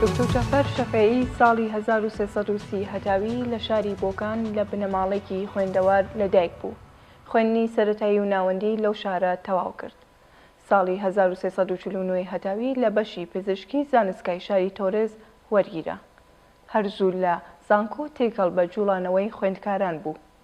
دوکتور جەعفەر شەفیعی ساڵی هەزار و سێ سەد و سی هەتاوی لە شاری بۆکان لە بنەماڵەیەکی خوێندەوار لەدایک بوو. خوێندنی سەرەتایی و ناوەندی لەو شارە تەواو کرد. ساڵی هەزار و سێ سەد و چل و نۆ هەتاوی لە بەشی پزیشکی زانستگای شاری تۆرێز وەرگیرا. هەر زوو لە زانکۆ تێکەڵ بە جووڵانەوەی خوێندکاران بوو.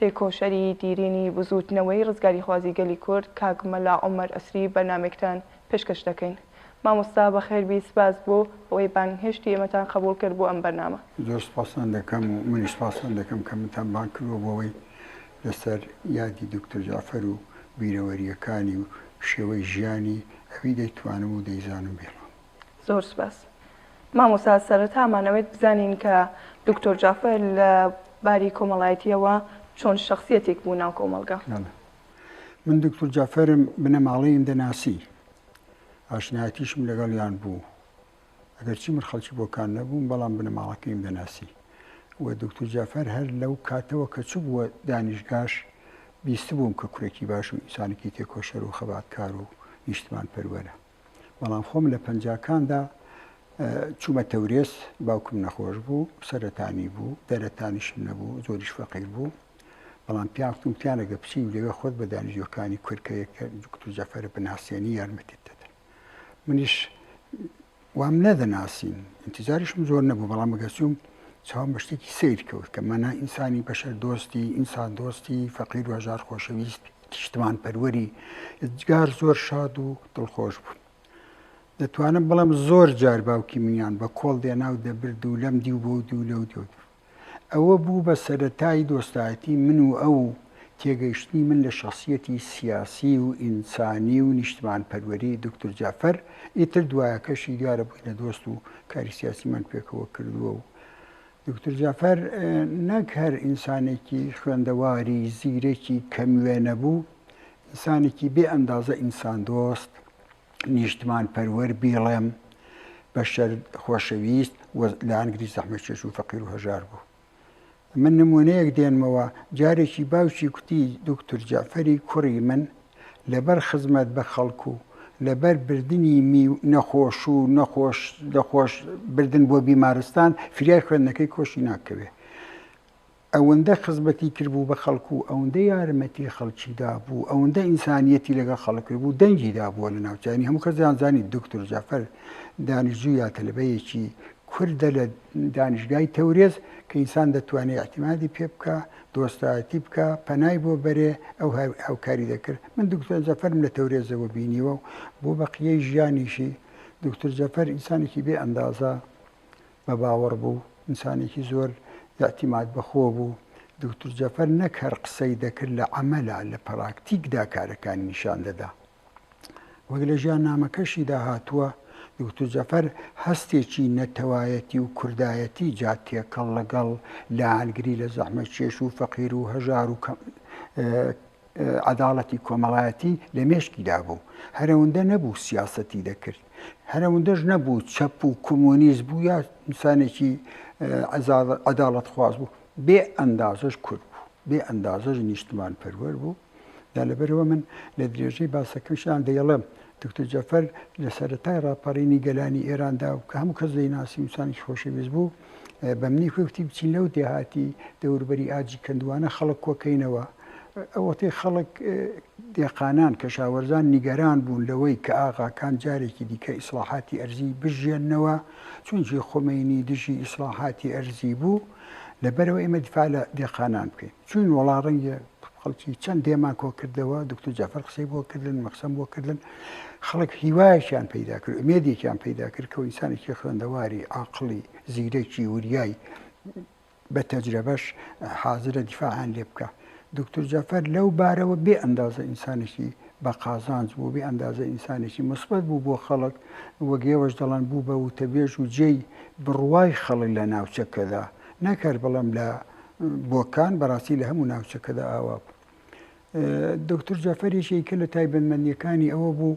تێکۆشەری دیرینی بزووتنەوەی ڕزگاریخوازی گەلی کورد کاک مەلا عومەر ئەسری بەرنامەیەکتان پێشکەش دەکەین. مامۆستا بەخێربی سپاس بۆ ئەوەی بانگهێشتی ئێمەتان قەبووڵ کرد بۆ ئەم بەرنامە. زۆر سپاستان دەکەم و منیش سپاستان دەکەم کە منتان بانگ کردووە بۆوەی لەسەر یادی دوکتور جەعفەر و بیرەوەرییەکانی و شێوەی ژیانی ئەوی دەیتوانم و دەیزانم بێڵم. زۆر سوپاس مامۆستا سەرەتا مانەوێت بزانین کە دکتۆر جافەر لە باری کۆمەڵایەتیەوە چۆن شخصیەتێک بوو ناو کۆمەڵگا من دکتۆر جافەرم بنەماڵەیم دەناسی ئاشنایەتیشم لەگەڵیان بوو ئەگەرچی من خەڵکی بۆکان نەبووم بەڵام بنەماڵەکەیم دەناسی و دکتۆر جافەر هەر لەو کاتەوە کە چ بووە دانیشگاش بیست بووم کە کوڕێکی باشم ئینسانێکی تێکۆشەر و خەباتکار و نیشتمان پەروەرە بەڵام خۆم لە پەنجاکاندا چوومە تەورێز باوکم نەخۆش بوو سەرەتانی بوو دەرەتانیشم نەبوو زۆریش فەقیر بوو بەڵام پیاوتم پیانەگە بچی و لەوێ خۆت بە دانیژیەکانی کورکەیەکە دکتور جەفەرە بناسیێنی یارمەتیت دەدەن منیش وام نەدەناسین انتظاریشم زۆر نەبوو بەڵام مەگەسووم چاوم بە شتێکی سیر کەوت کە مەنا ئینسانی بەشەر دۆستی ئینسان دۆستی فەقیر و هەژار خۆشەویست نیشتمانپەروەری یەدگار زۆر شاد و دڵخۆش بوون. دەتوانم بڵێم زۆر جار باوکی منیان بە کۆڵ دێنا و دەبرد و لەم دیو بۆ دوو لەو دیو دوو. ئەوە بوو بە سەرەتای دۆستایەتی من و ئەو و تێگەیشتنی من لە شەخسیەتی سیاسی و ئینسانی و نیشتمانپەروەری دوکتور جەعفەر، ئیتر دوایەکەشی دیارە بووینە دۆست و کاری سیاسیمان پێکەوە کردووە و دوکتور جەعفەر نەک هەر ئینسانێکی خوێندەواری زیرەکی کەم وێ نەبوو، ئینسانێکی بێ ئەندازە ئینسان دۆست، نیشتمان پەروەر بیڵێم بەشەر خۆشەویست و لانگری زەحمەت چێژ و فەقیر و هەژار بوو. من نموونەیەک دێنمەوە، جارێکی باوکی کوتی دوکتور جەعفەری کوڕی من لەبەر خزمەت بە خەڵک و لەبەر بردنی می و نەخۆش و نەخۆش نەخۆش بردن بۆ بیمارستان فریای خوێندنەکەی کۆشی ناکەوێ ئەوەندە خزمەتی کردبوو بە خەڵک و ئەوەندە یارمەتی خەڵکی دابوو ئەوەندە ئینسانیەتی لەگەڵ خەڵک کرد بوو دەنگی دابووە لە ناوچانی هەموو کەس دەیانزانی دکتور جەعفەر دانیشجوو یا تەلەبەیەکی کوردە لە دانیشگای تەورێز کە ئینسان دەتوانێ اعتمادی پێ بکا دۆستایەتی بکا پەنای بۆ بەرێ ئەو هەر هاوکاری دەکرد من دکتۆر جەفەرم لە تەورێزەوە بینیوە و بۆ بەقیەی ژیانیشی دکتۆر جەفەر ئینسانێکی بێ ئەندازە بە باوەڕ بوو ئینسانێکی زۆر یاعتیماد بەخۆ بوو دکتۆر جەفەر نەک هەر قسەی دەکرد لە عەمەلا لە پراکتیکدا کارەکانی نیشان دەدا. وەک لە ژیاننامەکەشیدا هاتووە، دوکتور جەفەر هەستێکی نەتەوایەتی و کوردایەتی جا تێکەڵ لەگەڵ لایەنگری لە زەحمەتکێش و فەقیر و هەژار و کەم عەداڵەتی کۆمەڵایەتی لە مێشکیدا بوو. هەرەوەندە نەبوو سیاسەتی دەکرد. هەرەوەندەش نەبوو چەپ و کۆمۆنیست بوو یا ئینسانێکی عەداڵەتخواز بوو. بێ ئەندازەش کورد بوو. بێ ئەندازەش نیشتمانپەروەر بوو. دا لەبەرئەوە من لە درێژەی باسەکەمشدا دەیڵێم دکتۆر جەفەر لە سەرەتای ڕاپەڕینی گەلانی ئێراندا و کە هەموو کەس دەیناسی وسانیش خۆشەویست بوو بە منی کوێکتی بچین لەو دێهاتی دەوربەری ئاجی کەندوانە خەڵک کۆکەینەوە ئەوەتەی خەڵک دێقانان کەشاوەرزان نیگەران بوون لەوەی کە ئاغاکان جارێکی دیکە ئیسلاحاتی ئەرزی بژێننەوە چونجی خۆمەینی دژی ئیسلاحاتی ئەرزی بوو لەبەرەوە ئێمە دیفاع لە دێقانان بکەین چووین وەڵا ڕەنگێ خەڵکی چەند دێمان کۆ کردەوە دکتۆر جەعفەر قسەی بۆ کردن مە قسەم بۆ کردن خەڵک هیوایەکیان پەیدا کرد ئومێدێکیان پەیدا کرد کە و ئینسانێکی خوێندەواری عاقڵی زیرەکی وریای بە تەجرەبەش حازرە دیفاعان لێ بکە دکتۆر جەعفەر لەو بارەوە بێ ئەندازە ئینسانێکی بە قازانج بوو بێ ئەندازە ئینسانێکی مثبت بوو بۆ خەڵک وەک ئێوەش دەڵێن بوو بە وتەبێژ و جێی بڕوای خەڵک لە ناوچەکەدا نەک هەر بڵێم لە بۆکان بەڕاستی لە هەموو ناوچەکەدا ئاوا بوو. دکتور جەفەر یەکێکە لە تایبەتمەندیەکانی ئەوە بوو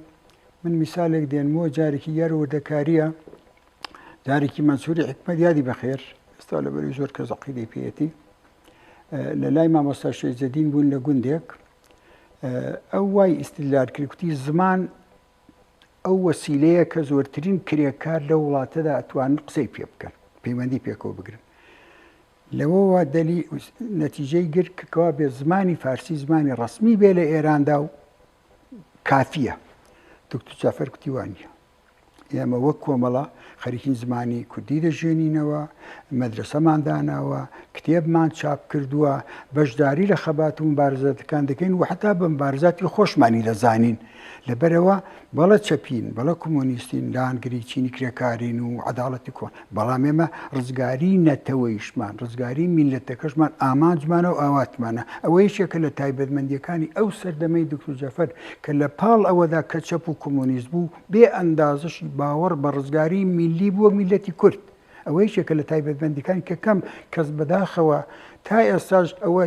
من میسالێک دێنمەوە جارێکی یار وردەکاریە جارێکی مەنسوری حکمت یادی بەخێر ئێستا لە بەری زۆر کە زەقیدەی پێەتی لە لای مامۆستا شێزەدین بوون لە گوندێک ئەو وای ئیسلار کرکتی زمان ئەو وەسیلەیە کە زۆرترین کرێکار لەو وڵاتەدا ئەتوانن قسەی پێ بکەن، پەیوەندی پێکەوە بگرن. لەوەوە دەلی نەتیجەی گرت کە کەوا بێ زمانی فارسی زمانی ڕەسمی بێ لە ئێراندا و کافییە. دوکتور جەعفەر کوتی وا نییە. ئێمە وەک کۆمەڵە خەریکین زمانی کوردی دەژێنینەوە، مەدرەسەمان داناوە، کتێبمان چاپ کردووە، بەشداری لە خەبات و مبارزاتەکان دەکەین و حەتا بە مبارزاتی خۆشمانی دەزانین. لەبەرئەوە بەڵێ چەپین، بەڵێ کۆمۆنیستین، لایەنگری چینی کرێکارین و عەداڵەتی کۆن، بەڵام ئێمە ڕزگاریی نەتەوەیشمان، ڕزگاریی میللەتەکەشمان ئامانجمانە و ئاواتمانە. ئەوە یەکێکە لە تایبەتمەندییەکانی ئەو سەردەمەی دوکتور جەفەر کە لە پاڵ ئەوەدا کە چەپ و کۆمۆنیست بوو، بێ ئەندازەشی باوەڕ بە ڕزگاریی میللی بوو وەک میللەتی کورد. ئەوە یەکێکە لە تایبەتمەندیەکانی کە کەم کەس بەداخەوە تا ئێستاش ئەوە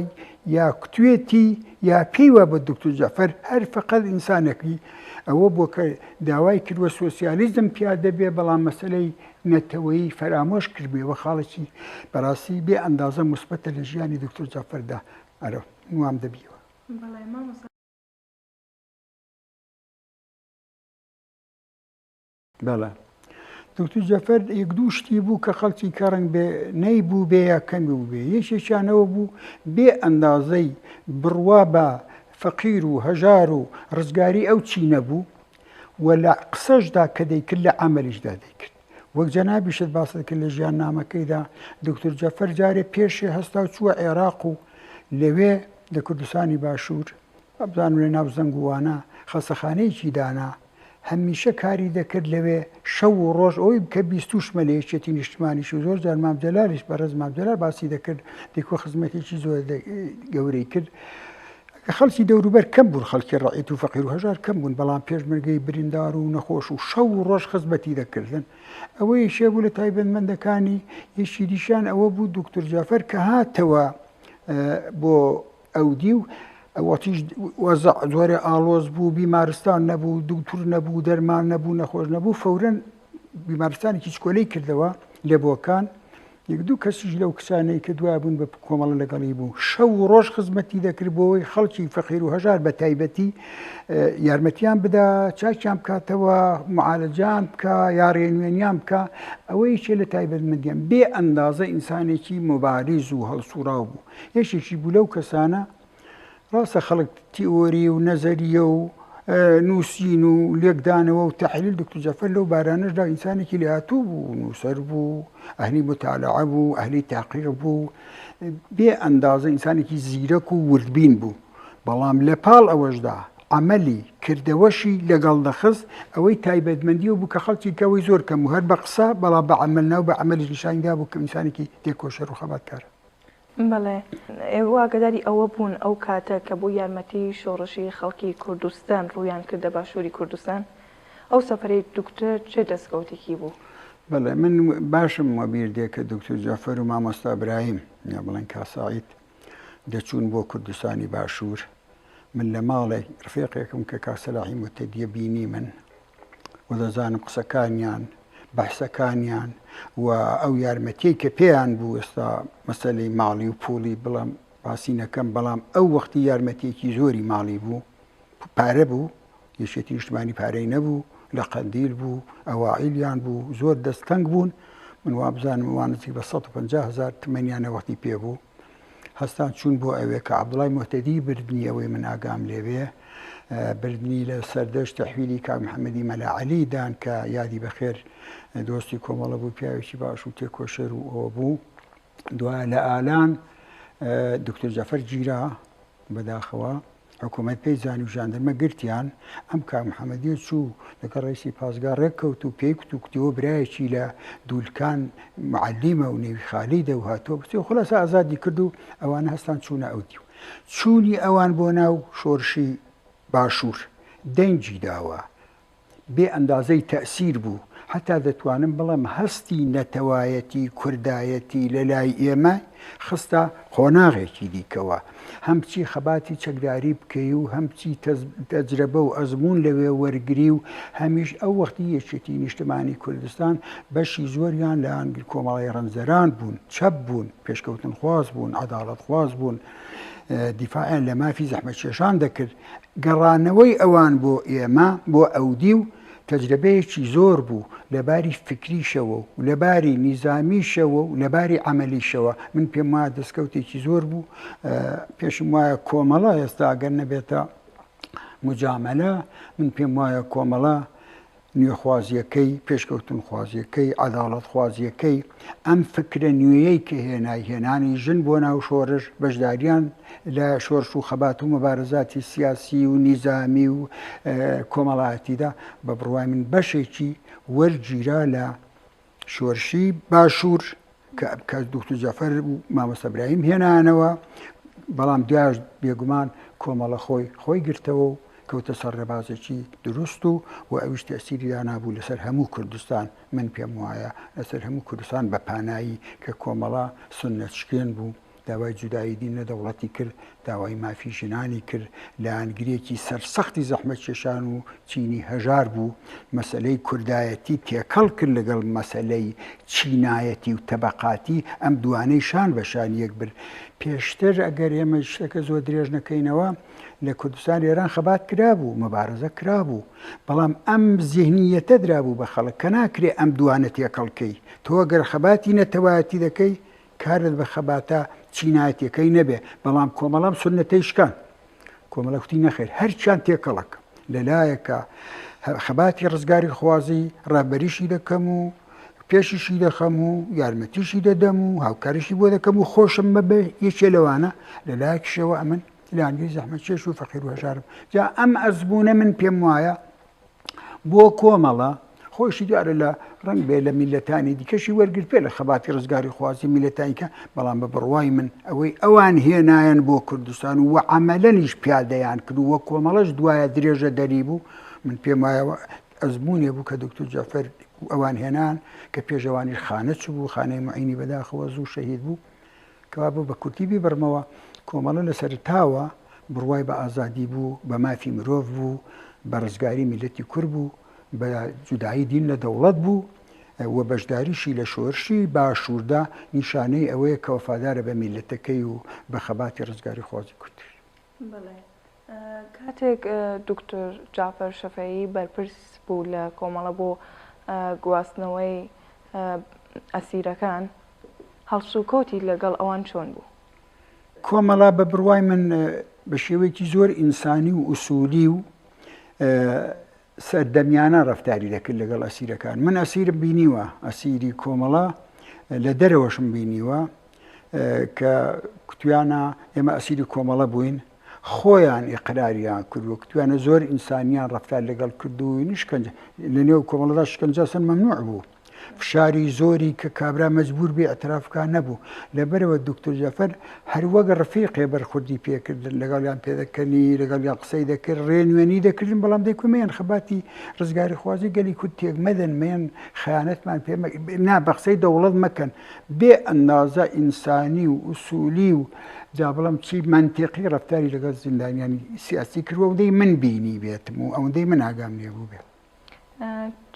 یا کوتوێتی یا پێی وا بە دکتور جەفەر هەر فقەت ئینسانەکی ئەوە بۆ کە داوای کردوە سۆسیالیزم پیادە بێ بەڵام مەسلەی نەتەوەی فەرامۆش کردێ وە خاڵێکی بەڕاستی بێ ئەندازە مثبتە لە ژیانی دکتور جەفەردا ئەرە نوام دەبیەوە. بەڵێ دوکتور جەفەر یەک دوو شتی بوو کە خەڵکی کەڕنگ بێ نەی بوو بێ یا کەمی و بێ یەکێکیانەوە بوو بێ ئەندازەی بڕوا بە فەقیر و هەژار و ڕزگاری ئەو چی نەبوو و لە قسەشدا کە دەیکرد لە ئەمەلیشدا دەیکرد وەک جەنابیشت باسەکە لە ژیان نامەکەیدا دکتور جەفەر جارێ پێشێ هەستا و چووە عێراق و لەوێ لە کوردستانی باشوور ئەبزان لە ناو زەنگووانە خەسەخانەیەکی دانا هەمیشە کاری دەکرد لەوێ شەو و ڕۆژ ئەوەی بکە بیستوشمە لە یەکێتی نیشتمانیش و زۆر جار مام جەلالیش بەڕێز مام جەلال باسی دەکرد دیکۆ خزمەتێکی زۆر گەورەی کرد خەڵکی دەوروبەر کەم بوون خەڵکی ڕعیت و فەقیر و هەژار کەم بوون بەڵام پێشمەرگەی بریندار و نەخۆش و شەو و ڕۆژ خزمەتی دەکردن ئەوەی شێ بوو لە تایبەتمەندەکانی یەکی دیشان ئەوە بوو دکتور جافەر کە هاتەوە بۆ ئەودیو وتیش، وەزع زۆر ئاڵۆز بوو، بیمارستان نەبوو، دوکتور نەبوو، دەرمان نەبوو، نەخۆش نەبوو، فەورەن بیمارستانێکی چکۆلەی کردەوە لە بۆکان، یەک دوو کەسیش لەو کچانەی کە دوای بوون بە کۆمەڵە لەگەڵی بوو، شەو و ڕۆژ خزمەتی دەکرد بۆ ئەوەی خەڵکی فەقیر و هەژار بە تایبەتی یارمەتیان بدا، چاکیان بکاتەوە، معالەجەیان بکا، یا ڕێنوێنیان بکا، ئەوە یەکێ لە تایبەتمەندییان، بێ ئەندازە ئینسانێکی موباریز و هەڵسووڕاو بوو. یەکێکی بوو لەو کەسانە، ڕاستە خەڵک تیئۆری و نەزەریە و نووسین و لێکدانەوە و تەحلیل دکتور جەفەر لەو بارانەشدا ئینسانێکی لێهاتوو بوو نووسەر بوو ئەهلی متالعە بوو ئەهلی تاقیق بوو بێ ئەندازە ئینسانێکی زیرەک و وردبین بوو بەڵام لە پاڵ ئەوەشدا عملی کردەوەشی لەگەڵ دەخست ئەوەی تایبەتمەندی و بوو کە خەڵکی کەەوەی زۆر کەم و هەر بە قسە بەڵا بە عمل ناو بە عملی نیشاندا بوو کە ئینسانێکی تێکۆشەر و خەباتکارە بەڵێ ئێوە ئاگەداری ئەوە بوون ئەو کاتە کە بۆ یارمەتی شۆڕشی خەڵکی کوردستان ڕوویان کردە باشووری کوردستان ئەو سەفەرەی دوکتر چ دەستکەوتێکی بوو؟ بەڵێ من باشم وەبیر دێ کە دوکتور جەفەر و مامۆستا برایم یا بڵێن کاساعید دەچوون بۆ کوردستانی باشوور من لە ماڵێک ڕفێقێکم کە کاسەلاحی متەدیە بینی من و دەزانم قسەکانیان، بەحسەکانیان و ئەو یارمەتیەی کە پێیان بوو، ئێستا مەسەلەی ماڵی و پوڵی بڵێم باسی نەکەم، بەڵام ئەو وەختی یارمەتیەکی زۆری ماڵی بوو، پارە بوو، یەکێتی نیشتمانی پارەی نەبوو، لە قەندیل بوو، ئەوائیلیان بوو، زۆر دەست تەنگ بوون، من وابزانم ئەوان نزیک بە سەد و پەنجا هەزار تمەنیان ئەو وەختی پێ بوو، هەستان چوون بۆ ئەوێ کە عەبدوڵای موهتەدی بردنی ئەوەی من ئاگام لێ بێ بردنی لە سەردەشت تەحویلی کاک محەمەدی مەلا عەلی دان کە یادی بەخێر دۆستی کۆمەڵە بوو پیاوێکی باش و تێکۆشەر و ئەوە بوو دوایە لە ئالان دکتۆر جەفەر گیرا بەداخەوە حکومەت پێی زانی و ژاندرمە گرتیان ئەم کاک محەممەدیە چوو لەگە ڕێسی پاسگا ڕێککەوت و پێی کوت و کوتیەوە برایەکی لە دوولکان معلیمە و نێوی خالی دە و هاتۆ بچێ و خلاص ئازادی کرد و ئەوانە هەستان چوونە ئەو دی و چوونی ئەوان بۆ ناو شۆرشی باشوور دەنگی داوە بێ ئەندازەی تەئسیر بوو، حەتا دەتوانم بڵێم هەستی نەتەوایەتی، کوردایەتی لە لای ئێمە خستە قۆناغێکی دیکەوە. هەم بچی خەباتی چەکداری بکەی و هەم بچی تەجرەبە و ئەزموون لەوێ وەرگری و هەمیش ئەو وەختی یەکێتی نیشتمانی کوردستان بەشی زۆریان لە کۆمەڵی رەنجدەران بوون، چەپ بوون، پێشکەوتنخواز بوون، عەداڵەتخواز بوون، دیفاعیان لە مافی زەحمەتکێشان دەکرد. گەڕانەوەی ئەوان بۆ ئێمە، بۆ ئەودیو، تەجرەبەیەکی زۆر بوو، لە باری فیکریشەوە و لە باری نیزامیشەوە و لە باری عەمەلیشەوە. من پێم وایە دەستکەوتێکی زۆر بوو. پێشم وایە کۆمەڵە، ئێستا ئەگەر نەبێتە موجامەلە، من پێم وایە کۆمەڵە، نوێخوازییەکەی، پێشکەوتنخوازییەکەی، عەداڵەتخوازییەکەی، ئەم فکرە نوێیەی کە هێنای، هێنانی ژن بۆ ناو شۆرش، بەشداریان لە شۆرش و خەبات و موبارزاتی سیاسی و نیزامی و کۆمەڵایەتیدا، بە بڕوای من بەشێکی وەرگیرا لە شۆرشی باشور کە دوکتور جەفەر و مامۆستا برایم هێنانەوە بەڵام دوایش بێگومان کۆمەڵە خۆی خۆی گرتەوە و کەوتە سەر ڕێبازێکی دروست و و ئەویش تەسیریا نابوو لەسەر هەموو کوردستان من پێم وایە لەسەر هەموو کوردستان بە پانایی کە کۆمەڵە سنەچکێن بوو داوای جودایی دین لە دەوڵەتی کرد، داوای مافی ژنانی کرد، لایەنگرێکی سەرسەختی زەحمەتکێشان و چینی هەژار بوو، مەسەلەی کوردایەتی تێکەڵ کرد لەگەڵ مەسەلەی چینایەتی و تەبەقاتی، ئەم دووانەی شان بە شان یەک برد. پێشتر ئەگەر ئێمە شتەکە زۆر درێژ نەکەینەوە، لە کوردستانی ئێران خەبات کرابوو، مەبارزە کرابوو، بەڵام ئەم زیهنییەتە درابوو بە خەڵک کە ناکرێ ئەم دووانە تێکەڵ کەی، تۆ ئەگەر خەباتی نەتەوایەتی دەکەی، کارت بە خەباتە چینایەتیەکەی نەبێ بەڵام کۆمەڵەم سونەتەی شکاند. کۆمەڵە کوتی نەخێر هەرچیان تێکەڵەکەم. لە لایەکە خەباتی ڕزگاری خوازی ڕابەریشی دەکەم و پێشیشی دەخەم و یارمەتیشی دەدەم و هاوکاریشی بۆ دەکەم و خۆشم بە بێ یەکێ لەوانە لە لایەکشەوە ئەمن لاندوی زەحمەتکێش و فەقیر و هەژارم جا ئەم ئەزمونە من پێم وایە بۆ کۆمەڵە، خۆیشی دیارە لە ڕەنگبێ لە میللەتانی دیکەشی وەرگرتبێ لە خەباتی ڕزگاریخوازی میللەتانیکە، بەڵام بە بڕوای من ئەوەی ئەوان هێنایان بۆ کوردستان و عەمەلەنیش پیادەیان کرد و وەک کۆمەڵەش دوایە درێژەدەری بوو، من پێم وایە ئەوە ئەزموونێ بوو کە دوکتور جەعفەر و ئەوان هێنایان کە پێش ئەوانیش خانە چبوو، خانەی موعینی بەداخەوە زوو شەهید بوو. کەوابوو بە کورتی بیبڕمەوە، کۆمەڵە لە سەرەتاوە بڕوای بە ئازادی بوو، بە مافی مرۆڤ بوو، بە ڕزگاری میللەتی کورد بوو، بە جودایی دین لە دەوڵەت بوو و بەشداریشی لە شۆرشی باشووردا نیشانەی ئەوەیە کە وەفادارە بە میللەتەکەی و بە خەباتی ڕزگاریخوازی کورد. بەڵێ کاتێک دوکتور جەعفەر شەفەعی بەرپرس بوو لە کۆمەڵە بۆ گواستنەوەی ئەسیرەکان هەڵسوکەوتی لەگەڵ ئەوان چۆن بوو؟ کۆمەڵە بە بڕوای من بە شێوەیەکی زۆر ئینسانی و ئوسولی و سەردەمیانە ڕەفتاری دەکرد لەگەڵ ئەسیرەکان من ئەسیرم بینیوە ئەسیری کۆمەڵە لە دەرەوەشم بینیوە کە کوتویانە ئێمە ئەسیری کۆمەڵە بووین خۆیان ئقراریان کردو کوتویانە زۆر ئینسانیان ڕفتار لەگەڵ کردو نیشکەنج لە نێو کۆمەڵدا شکنجەسن مەمنوع بوو فشاری زۆری کە کابرا مەجبور بێ ئیعتراف بکا نەبوو، لەبەرئەوە دوکتور جەعفەر هەر وەک ڕفیقێ بەرخوردی پێ کردن، لەگەڵیان پێدەکەنی، لەگەڵیان قسەی دەکرد، ڕێنوێنی دەکردن، بەڵام دەیکوت مەیەن خەباتی ڕزگاریخوازی گەلی کورد تێک مەدەن، مەیەن خەیانەتمان پێ مەکەن، نا بە قسەی دەوڵەت مەکەن، بێ ئەندازە ئینسانی و ئوسولی و جا بڵێم چی مەنتیقی ڕەفتاری لەگەڵ زیندانیانی سیاسی کردوە ئەوەندەی من بینیبێتم و ئەوەندەی من ئاگام لێبووبێت.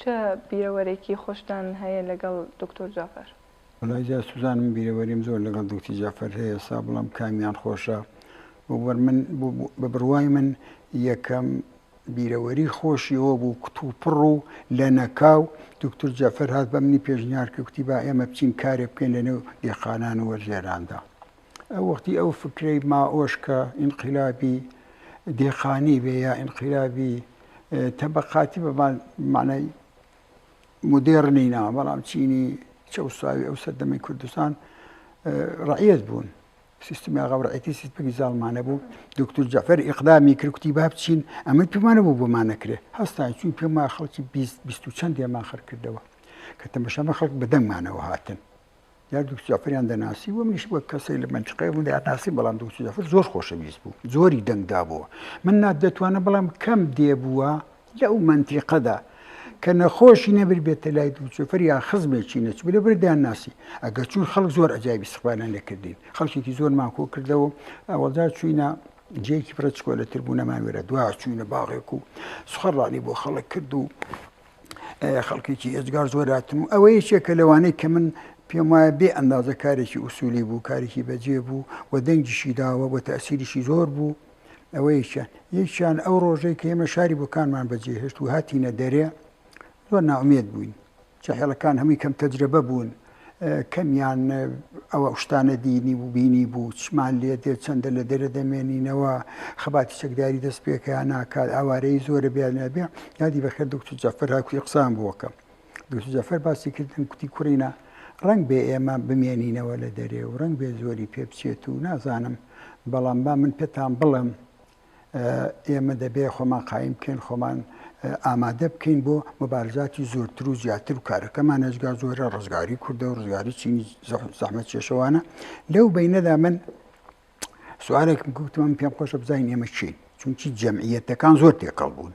چ بیرەوەرێکی خۆشتان هەیە لەگەڵ دوکتور جەعفەر؟ وەڵا جاسوزان من بیرەوەریم زۆر لەگەڵ دوکتی جەعفەر هەیە سا بڵام کامیان خۆشە وە بەر من بە بڕوای من یەکەم بیرەوەری خۆشی ئەوە بوو کتوپڕ و لە نەکاو دوکتور جەعفەر هات بە منی پێشنیار کرد کوتی با ئێمە بچین کارێ بکەین لە نێو دێخانان و وەرزێراندا ئەو وەختی ئەو فکرەی مائۆش کە ئینقیلابی دێقانی بێ یا ئینقیلابی تەبەقاتی بە مانای مدێڕنی نا بەڵام چینی چەوساوی ئەو سەردەمی کوردستان ڕعەت بوون سیستمی ئاغاڕێتی سیستمی زاڵمانە بوو دکتور جەفەر ئقدامی کرکتی با بچین ئەمە پێمانە بوو بۆمانەکرێ هەستان چوین پێما خەڵکی چەند دێمان خەرکردەوە کە تەمەشەمە خەڵک بەدەنگمانەوە هاتن یان دوکتور جەعفەریان دەناسی و منیش وەک کەسێک لە مەنتیقەی ئەوم دەیانناسی بەڵام دوکتور جەعفەر زۆر خۆشەویست بوو زۆری دەنگ دابووە من نا دەتوانم بڵێم کەم دێ بووە لەو مەنتیقەدا کە نەخۆشی نەبر بێتە لای دوکتور جەعفەر یان خزمێکی نەچوو لەبەر دەیانناسی ئەگەر چوون خەڵک زۆر عەجایبی استقبالیان لێکردین خەڵکێکی زۆرمان کۆ کردەوە ئەوەڵدا چووینە جێیەکی بڕە چکۆلەتر بوو نەمان وێرە دوا چووینە باغێک و سخەڕانی بۆ خەڵک کرد و خەڵکێکی ئێجگار زۆر هاتم و ئەوە یەکێکە لەوانەی کە من پێم وایە بێ ئەندازە کارێکی ئووسولی بوو کارێکی بەجێ بوو و دەنگیشی داوە بۆ تەسیریشی زۆر بوو ئەوە یەکیان یەکیان ئەو ڕۆژەی کە ئێمە شاری بۆکانمان بەجێ هێشت و هاتیینە دەرێ زۆر ناومێت بووین چهێڵەکان هەمووی کەم تەجرەبە بوون کەمیان ئەو شتانە دینی و بینی بوو چمان لێ دێت چەندە لە دەرە دەمێنینەوە خەباتی چەکداری دەست پێکەیان ناکات ئاوارەی زۆرە بیانەبێ یادی بەخێر دکتور جەفر هاکوی قسان بووەکەم دکتور جەفر باسی کردن کوتی کوڕینە ڕنگ بێ ئێمە بمێنینەوە لە دەرێ و ڕنگ بێ زۆری پێ بچێت و نازانم بەڵام با من پێتان بڵم ئێمە دەبێت خۆمان قایم بکەین خۆمان ئامادە بکەین بۆ مبارزاتی زۆرتر و زیاتر و کارەکەمان نەجگا زۆرە ڕزگاری کوردە و ڕزگاری چینی زەحمە چێشەوانە لەو بینەدا من سوارێکم گوتمان پێم خۆشە بزانین ئێمە چین چونچی جەمعیەتەکان زۆر تێکەڵ بوون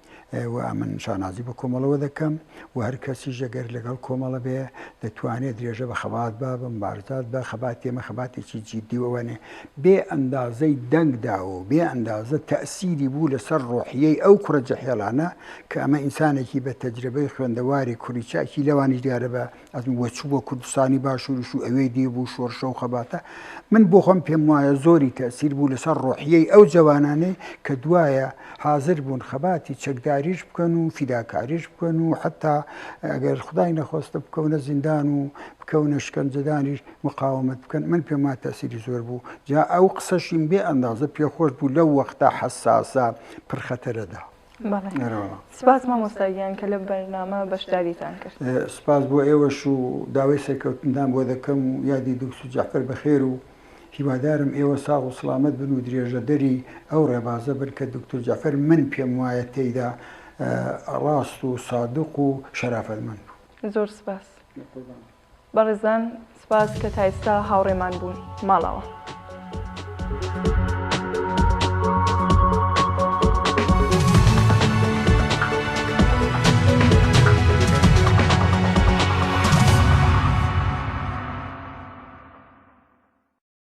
و ئەمن شانازی بە کۆمەڵەوە دەکەم و هەر کەسیش ئەگەر لەگەڵ کۆمەڵە بێ دەتوانێت درێژە بە خەبات با بە مبارزات بە خەبات تێمە خەباتێکی جیددی وەوانێ بێ ئەندازەی دەنگدا و بێ ئەندازە تەسیری بوو لەسەر ڕۆحیەی ئەو کوڕە جەحێڵانە کە ئەمە ئینسانێکی بە تەجرەبەی خوێندەواری کوڕی چاکی لەوانیش دیارە بە ئەدو وە چ بۆ کوردستانی باشوریش و ئەوێی دی بوو شۆرشە و خەباتە من بۆ خۆم پێم وایە زۆری تەئسیر بوو لەسەر ڕۆحیەی ئەو جەوانانەی کە دوایە حازر بوون خەباتی چەکداریش بکەن و فیداکاریش بکەن و حەتا ئەگەر خدای نەخۆستە بکەونە زیندان و بکەونە شکەنجەدانیش مقاومەت بکەن من پێم وایە تەئسیری زۆر بوو جا ئەو قسەشیم بێ ئەندازە پێ خۆش بوو لەو وەختە حەساسە پڕ خەتەرەدا. سپاس مامۆستا گیان کە لە بەرنامە بەشداریتان کرد. سپاس بۆ ئێوەش و داوای سەرکەوتندان بۆ دەکەم و یادی دوکتور جەعفەر بەخێر و هیوادارم ئێوە ساغ و سڵامەت بن و درێژەدەری ئەو ڕێبازە بن کە دوکتور جەعفەر من پێم وایە تێیدا ڕاست و سادق و شەرافەتمەند بوو. زۆر سپاس. بەڕێزان سپاس کە تا ئێستا هاوڕێمان بوون. ماڵەوە.